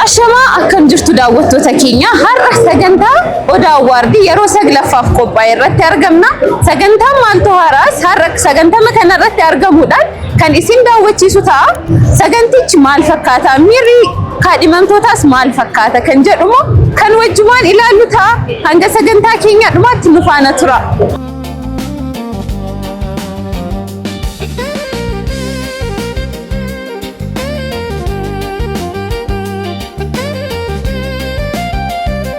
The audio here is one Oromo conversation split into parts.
Ashamaa akkam jirtu daawwattoota keenya har'a sagantaa Odaa Awwaardii yeroo saglaffaaf qophaa'e irratti argamna. Sagantaan maaltu haaraas har'a sagantama kana irratti argamuudhaan kan isin daawwachiisu ta'a. Sagantichi maal fakkaata? Miirri kaadhimamtootaas maal fakkaata? Kan jedhu immoo kan wajjumaan ilaallu ta'a. Hanga sagantaa keenyaa dhumaatti nu faana tura.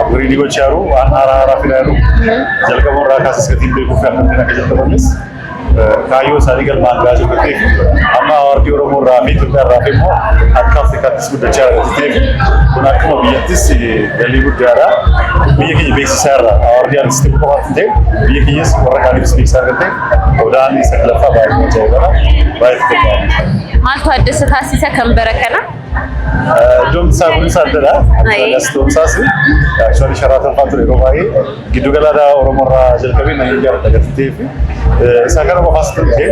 Upgrade gochaa jiru waan haaraa haaraa fidaa jiru. Jalqaba irraa kaasas gatiin beekuuf kan kanneen akka jalqabanis kaayyoo isaanii galmaan gahaa jiru ta'eef amma awaardii Oromoo irraa fi Itoophiyaa irraa fi immoo akka Afrikaattis guddachaa jira ta'eef kun akkuma biyyattis galii guddaadha. Biyya keenya beeksisaa irra awaardii artistii qofa hin ta'e biyya keenyas warra kaaniifis beeksisaa kan ta'e odaan isa laffaa baay'ee ajaa'ibadha. Baay'ee filatamaadha. Maaltu adda isa taasisa kan bara kana? Iddoon isaa kunis addadha. Addadhas ta'uun isaas aksuwaalii sharaatan fa'aa ture yeroo baay'ee giddu gala aadaa Oromoo irraa jalqabee na hin jaalladha gateettee fi isaa kana qofaas kan ta'e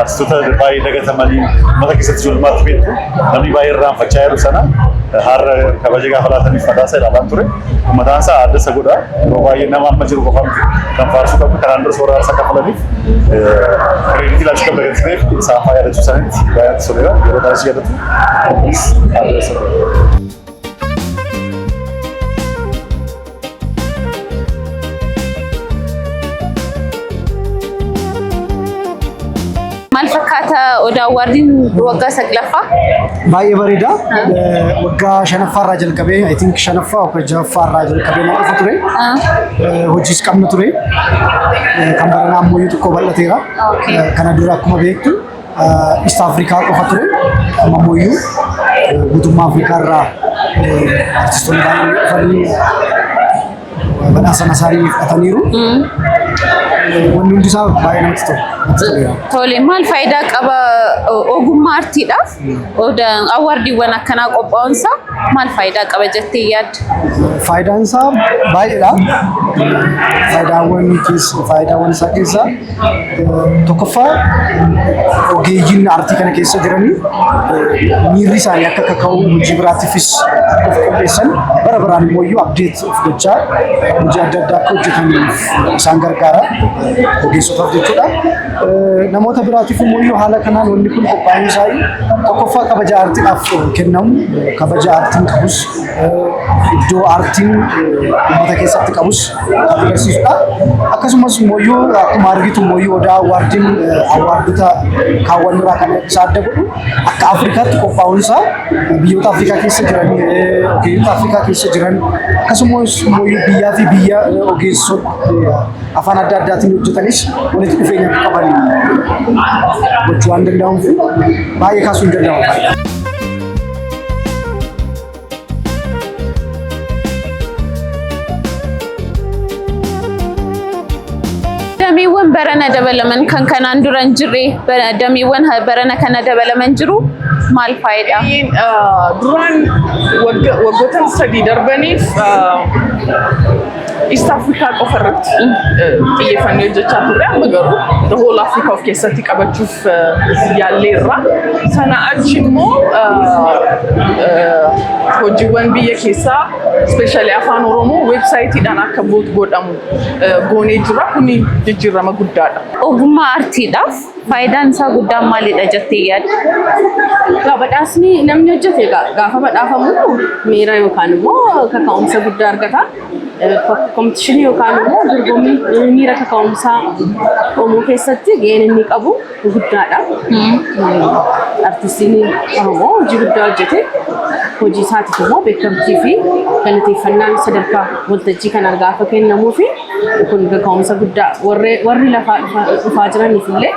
artistoota baay'ee dagatamanii uummata keessatti ijoollumaatti beektu namni baay'ee irraanfachaa jiru sana har'a kabaja gaafa laataniif mataa isaa ilaalaan ture. mataan isaa adda isa godha. Yeroo baay'ee nama amma jiru qofa miti. Kan faarsuu qabu kanaan dura soorata isaa kafalaniif kireeditii laachuu qabda kan ta'eef isaan fa'aa yaadachuu isaaniitti baay'ee itti toleera. Yeroo taasisu yaadatu kunis adda isa godha. Maal fakkaata Odaa Awwaardiin waggaa saglaffaa? Baay'ee bareeda. Waggaa shanaffaa irraa jalqabee, I think shanaffaa yookaan jahaffaa irraa jalqabee na dhufu ture. Hojiis qabna ture. Kan baranaa ammoo yoo xiqqoo bal'ateera. Kana dura akkuma beektu East Afrikaa qofa ture. Amma ammoo iyyuu guutummaa Afrikaa irraa artistoonni baay'een dhufanii badhaasa isaanii fudhataniiru. Wanni hundi isaa baay'ee namatti tola. Namatti toleera. Tole maal faayidaa qaba o- ogummaa artiidhaaf oda awwaardiiwwan akkanaa qophaa'uunsaa maal faayidaa qaba jettee yaadda? Faayidaan isaa baay'eedha. Faayidaawwan keessa faayidaawwan isaa keessaa Tokkoffaa ogeeyyiin aartii kana keessa jiranii miirri isaanii akka kaka'u hojii biraatiifis akka of qopheessan bara baraan immoo iyyuu abdeet of gochaa hojii adda addaa akka hojjetaniif isaan gargaara ogeessotaaf jechuudha. Namoota biraatiif immoo iyyuu haala kanaan wanni kun qophaa'uu isaa tokkoffaa kabaja aartiidhaaf kennamu kabaja aartiin qabus iddoo aartiin uummata keessatti qabus kan agarsiisudha. Akkasumas immoo akkuma argitu immoo odaa awwaardiin awwaardota kaawwan irraa kan isa adda godhu akka Afrikaatti qophaa'uun isaa biyyoota Afrikaa keessa jiran ogeeyyota Afrikaa keessa jiran akkasumas immoo biyyaa fi biyya ogeessota afaan adda addaatiin hojjetanis walitti dhufeenya akka qaban gochuu waan danda'amuuf baay'ee kaasuun danda'ama. Dameewwan barana dabalaman kan kanaan dura hin jirre bara- dameewwan ha- barana kana dabalaman jiru maal faayidha? Baay'een, ah, duraan wagga- waggoota sadii darbaniif ah, East Afrikaa qofa irratti xiyyeeffannee hojjechaa turre amma garuu the whole Africa of keessatti qabachuuf yaallee irra. Sana achi immoo hojiiwwan biyya keessaa ispeeshaalii afaan Oromoo weebsaayitiidhaan akka boot godhamu goonee jira. Kuni jijjiirama guddaadha. Ogummaa artiidhaaf Faayidaan isaa guddaan maalidha jettee yaadda? Egaa badhaasni namni hojjete egaa gaafa badhaafamu miira yookaan immoo kaka'umsa guddaa argata. Kompitishinii yookaan immoo dorgommii miira kaka'umsaa uumuu keessatti gaheen inni qabu guddaadha. Artistiin Oromoo hojii guddaa hojjete hojii isaatiif immoo beekamtii fi galateeffannaan sadarkaa waltajjii kanaan gaafa kennamuufi Kun kaka'umsa guddaa warri warri lafaa dhufa- dhufaa jiraniif illee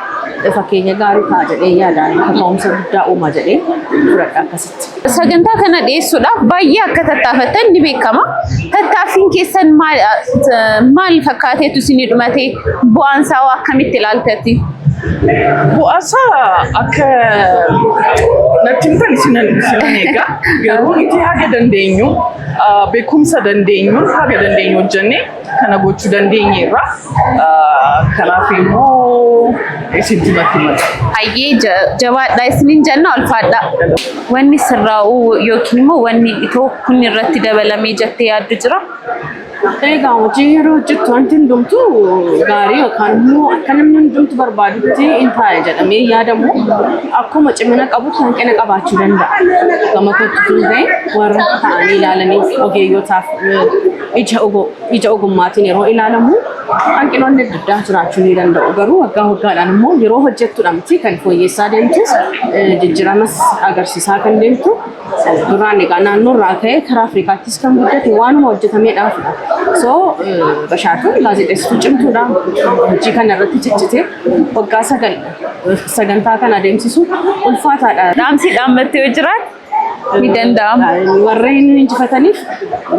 fakkeenya gaarii ta'a jedhee yaadaan kaka'umsa guddaa uuma jedhee fudhadha akkasitti. Sagantaa kana dhiyeessuudhaaf baay'ee akka tattaafattan ni beekama. Tattaaffiin keessan maal, maal fakkaateetu isinii dhumate? Bu'aan isaa hoo akkamitti ilaaltatti? Bu'aasaa akka natti hin taane sinan sinan eegaa garuu nuti haga dandeenyu Beekumsa dandeenyuun haga dandeenyu hojjennee kana gochuu dandeenyeerra. Kanaaf immoo isintu natti himata. Hayyee jabaadhaa isiniin jenna ulfaadhaa. Wanni sirraa'uu yookiin immoo wanni itoo kunni irratti dabalamee jettee yaaddu jira? Egaa hojii yeroo hojjettu wanti hundumtu gaarii yookaan immoo akka namni hundumtu barbaadutti hin taa'e jedhamee yaadamu akkuma cimina qabutti hanqina qabaachuu danda'a. Gama kootti kun ta'e warra ta'anii ilaalaniif ogeeyyotaaf ija ogo- ija ogummaatiin yeroo ilaalamu hanqinoonni adda addaa jiraachuu ni danda'u. Garuu waggaa waggaadhaan immoo yeroo hojjettudha miti kan fooyyessaa deemtus eh, jijjiiramas agarsiisaa kan deemtu Duraan egaa naannoo irraa ka'ee karaa Afrikaattis kan guddate waanuma hojjetameedhaaf. So Bashaatuun gaazexeessituu cimtuudha. Hojii kana irratti cichitee waggaa sagal sagantaa kana adeemsisuun ulfaataadha. Dhaamsi dhaammattee yoo jiraate ni danda'ama. Warreen injifataniif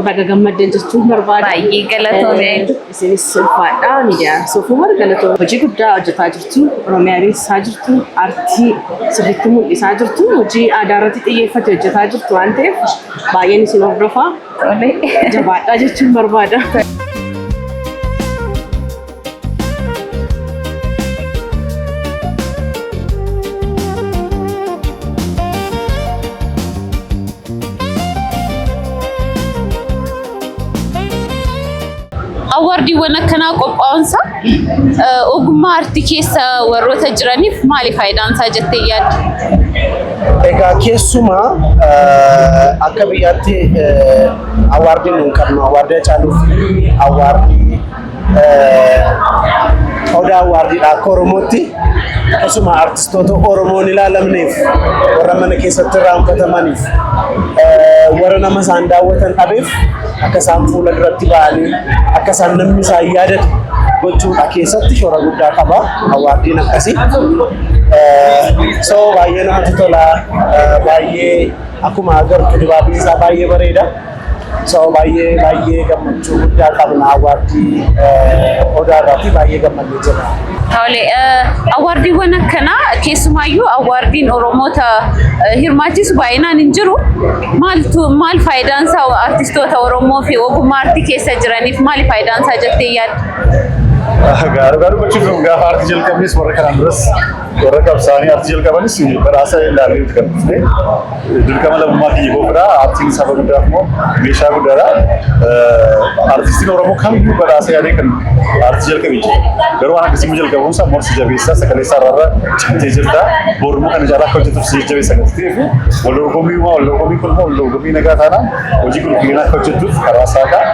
baga gammaddan jechuun barbaada. Baay'ee galatoomee. Isinis ulfaadhaa miidiyaa Soofuumar galatoomaa hojii guddaa hojjetaa jirtu Oromiyaa beeksisaa jirtu aartii sirriitti mul'isaa jirtu hojii aadaa irratti xiyyeeffate hojjetaa jirtu waan ta'eef baay'een isin hordofa jabaadhaa jechuun barbaada. Awwaardiiwwan akkanaa qophaa'uunsaa eh, ogummaa artii keessa warroota jiraniif maali faayidaan isaa jettee yaadda? Egaa keessumaa eh, akka biyyaatti eh, awwaardiin nuun qabnu awwaardii Hacaaluuf awwaardii Odaa Waardiidha akka Oromootti akkasuma artistoota Oromoon ilaalamneef warra mana keessatti raanfatamaniif warra nama isaan daawwatan dhabeef akka isaan fuula duratti ba'anii akka isaan namni isaan yaadatu gochuudha keessatti shoora guddaa qaba awwaardiin akkasii. So baay'ee namatti tola baay'ee akkuma agartu dibaabiin isaa baay'ee bareeda. So baay'ee baay'ee gammachuu guddaa qabna awwaardii odaa irratti baay'ee gammannee jira. Tole, eh, awwaardiiwwan akkanaa keessumaayyuu awwaardiin Oromoota eh, hirmaachisu baay'inaan hin jiru. Maaltu maal faayidaan isaa artistoota Oromoo fi ogummaa artii keessa jiraniif maali faayidaan isaa jettee yaadda? Gaarii gaarii gochuuf gaafa aartii jalqabnes warra kanaan duras Warra qabsaanii aartii jalqabanis badhaasa ilaalee itti kan dhufte dirqama lammummaa kiyya boqodha. Aartiin saba guddaa immoo meeshaa guddaadha. Aartistiin Oromoo kamiyyuu badhaasa yaadee kan aartii jalqabe jira. Garuu waan akkasii immoo jalqabuun isaa morsi jabeessaa sagalee isaa irraa cimtee jirta. Borummoo kana caalaa akka hojjetuuf siif jabeessa kan ta'eef wal dorgommii wal dorgommii kun wal dorgommii nagaa taanaan hojii qulqullinaa akka hojjettuuf karaa isaa ka'a.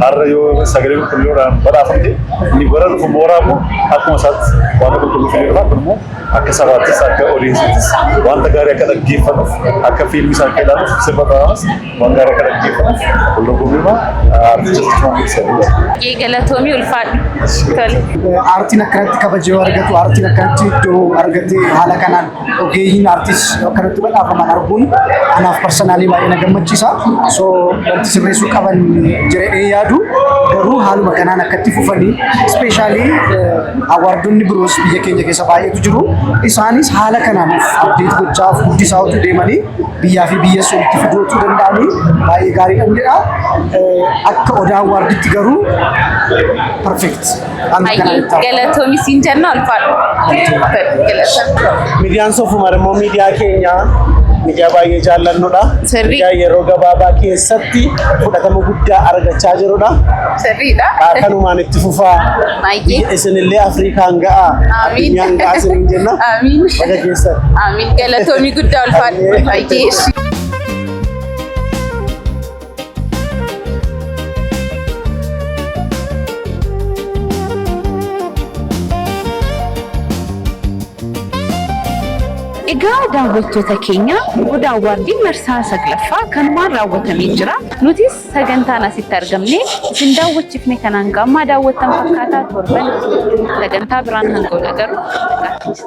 Har'a yoo sagalee qulqulluudhaan badhaafamte inni bara dhufu mooraa immoo Akkuma isaatti waan qulqulluu fidee dhufa kun immoo akka sabaattis akka odiinsiittis wanta gaarii akka dhaggeeffanuuf akka fiilmii isaa akka ilaaluuf sirba baramas waan gaarii akka dhaggeeffanuuf wallogommiima artichatti waan ibsa. Ee galatoomii ulfaadhu. Tole. Aartiin akkanatti kabajee argatu, aartiin akkanatti iddoo argatee haala kanaan ogeeyyiin aartiis akkanatti badhaafaman arguun anaaf parsanaalii baay'ee na gammachiisa. So wanti sirreessuu qaban jedhee yaadu garuu haaluma kanaan akkatti fufanii ispeeshaalii awwaardonni biroos biyya keenya keessa baay'eetu jiru. Isaanis haala kanaan of abdeet gochaa of guddisaa utuu deemanii biyyaa fi biyya sunitti fiduu utuu danda'anii baay'ee gaariidha jedha. Akka odaa awwaarditti garuu perfect. Hayyee galatoomi siin jenna ulfaadhu. Miidiyaan Soofumar immoo miidiyaa keenya miidiyaa baay'ee jaallannudha. Sirrii. Miidiyaa yeroo gabaabaa keessatti fudhatama guddaa argachaa jirudha. Sirriidha. Kanumaan itti fufaa. Baay'ee. Isinillee Afrikaan ga'a. Amiin. Addunyaan ga'a isiniin jenna. Amiin. Baga keessan. Amiin galatoomi guddaa ulfaadhu. Baay'ee. Egaa daawwattoota keenya Odaa Awwaardiin marsaa saglaffaa kanumaan raawwatamee jira. Nutis sagantaan asitti argamne isin daawwachiifne kanaan ga'ammaa daawwattan fakkaataa torban sagantaa biraan hanga wal agarru.